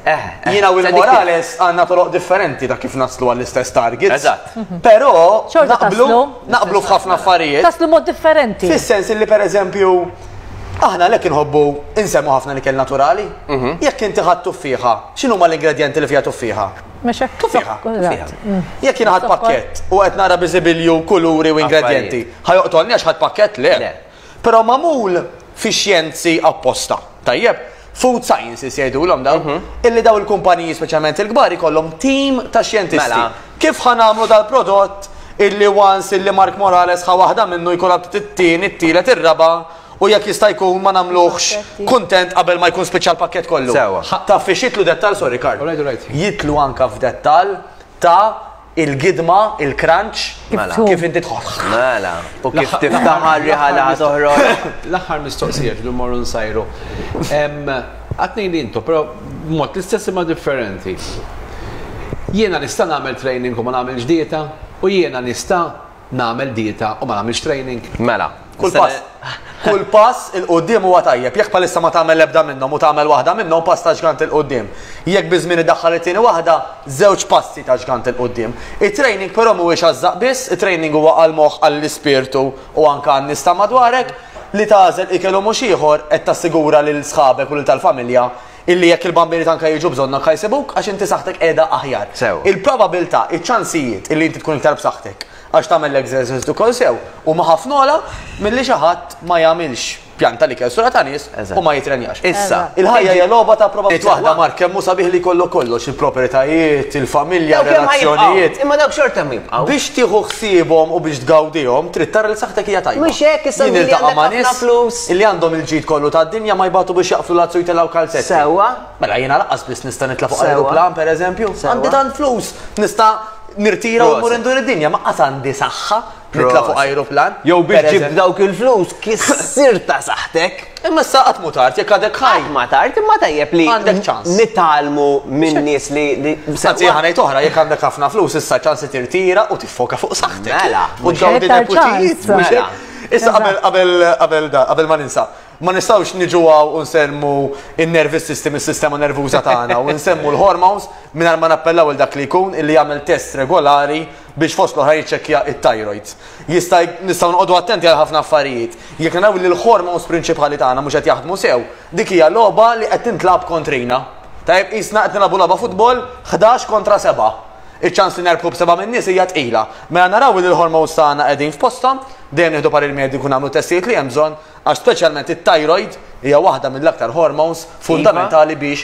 Eh, eh. Jina u l-Morales għanna toroq differenti ta' kif naslu għall-istess target. Eżatt. Mhm. Pero, naqblu, naqblu f'ħafna affarijiet. Taslu mod differenti. Fis-sens li per eżempju, aħna lek inħobbu insemmu ħafna li kell naturali. Mhm. Jekk inti ħadd tuffiħa, x'inhu ma l-ingredienti li fiha tuffiħa? Mexek tuffiħa. Mhm. Jekk jien ħadd pakkett u qed nara biżibilju kuluri u ingredienti, ħajoqtolni għax ħadd pakkett le. Però magħmul fix-xjenzi apposta. Tajjeb? Food sciences jgħidulhom dawn. Mhm. Illi dawn il-kumpaniji speċjalment il-kbar ikollhom tim ta' xjentisti. Mela. Kif ħa nagħmlu dal-prodott illi once illi Mark Morales ħa waħda minnu jkun għabtit it-tieni, it-tielet, ir-raba' u jekk jista' jkun ma nagħmluhx Aspetti. kuntent qabel ma jkun spiċċa l-pakkett kollu. Sewwa. Ħa- Taf fiex jitlu dettal, sorry Karl. All right, all right. Jitlu anka f'dettal ta' il-gidma, il-crunch, Mela. kif inti tħoss. Mela, u kif L-aħħar- tiftaħ l-aħħar- riħa li ħa toħroġ. L-aħħar mistoqsija ġdu mmorru nsajru. Em, Għatni li intu, però mod l-istess imma differenti. Jiena nista' nagħmel training u ma nagħmilx dieta u jiena nista' Nagħmel dieta u ma nagħmilx training? Mela. Kull pass, kull pass 'il quddiem huwa tajjeb. Jekk bħalissa ma tagħmel l-ebda minnhom u tagħmel waħda minnhom, pass ta' ġgant 'il quddiem. Jekk biż-żmien iddaħħal it-tieni waħda, żewġ passi ta' ġgant 'il quddiem. It-training però mhuwiex għaż-żaqq biss, it-training huwa għall-moħħ, għall-ispirtu u anke għan-nies ta' madwarek. Li tagħżel ikel u mhux ieħor, qed tassigura lil sħabek u lil tal-familja Illi jekk il-bambini tanka jiġu bżonn anka jsibuk għax inti saħħtek qiegħda aħjar. Sew. Il-probabilità, iċ-ċansijiet illi inti tkun iktar b'saħħtek għax tagħmel l-exercise ukoll sew huma ħafna ogħla milli xi ħadd ma jagħmilx pjan tal-ikel sura ta' nies Eżatt. u ma jitrenjax. Issa, Il-ħajja hija logħba ta' Qed probabilità. waħda mar kemm hu sabiħ li jkollok kollox, il-proprjetajiet, il-familja, Dawk hemm ħajibqgħu, relazzjonijiet. Imma dawk xorta hemm jibqgħu. Biex tieħu ħsiebhom u biex tgawdihom, trid tara li saħħtek hija tajba. Mhux hekk, issa Jien li niltaqa' għandek ma' ħafna nies- flus. Illi għandhom il-ġid kollu tad-dinja ma jbatu biex jaqflu l-azz u jtelgħu kalzetti. Sewwa. Mela jiena lanqas biss nista' nitla' fuq ajruplan, pereżempju. Għandi tant flus, nista' nirtira u mmur indur id-dinja, ma qas għandi saħħa nitla' fuq ajruplan. Jew biex ġibt dawk il-flus kissir ta' saħħtek. Imma issa qatt mhu tard jekk għadek ħaj. Qatt ma tard, imma tajjeb li Għandek ċans. nitgħallmu minn nies li li Anzi jien ħa ngħid oħra, jekk għandek ħafna flus issa ċans li tirtira u tiffoka fuq saħħtek. Mela, u Mhux tgawdi iktar ċans. nepotijiet. Mela. Issa qabel qabel qabel da, qabel ma ninsa, ma nistgħux niġu għaw u nsemmu in-nervous system, is-sistema nervuża tagħna u nsemmu l-hormones mingħajr ma nappellaw il dak li jkun illi jagħmel test regolari biex fost l-oħra jiċċekkja it-thyroid. Jista' nistgħu noqogħdu attenti għal ħafna affarijiet. Jekk naraw li l-hormones prinċipali tagħna mhux qed jaħdmu sew, dik hija logħba li qed tintlab kontrina. Tajb, isna qed nilagħbu logħba futbol 11 kontra 7. Iċ-ċans li nerbħu b'seba' min-nies hija tqila. Mela naraw li l-hormones tagħna qegħdin f'posthom, dejjem nieħdu parir mediku u nagħmlu testijiet li hemm bżonn għax speċjalment it-thyroid hija waħda mill-aktar hormones fundamentali biex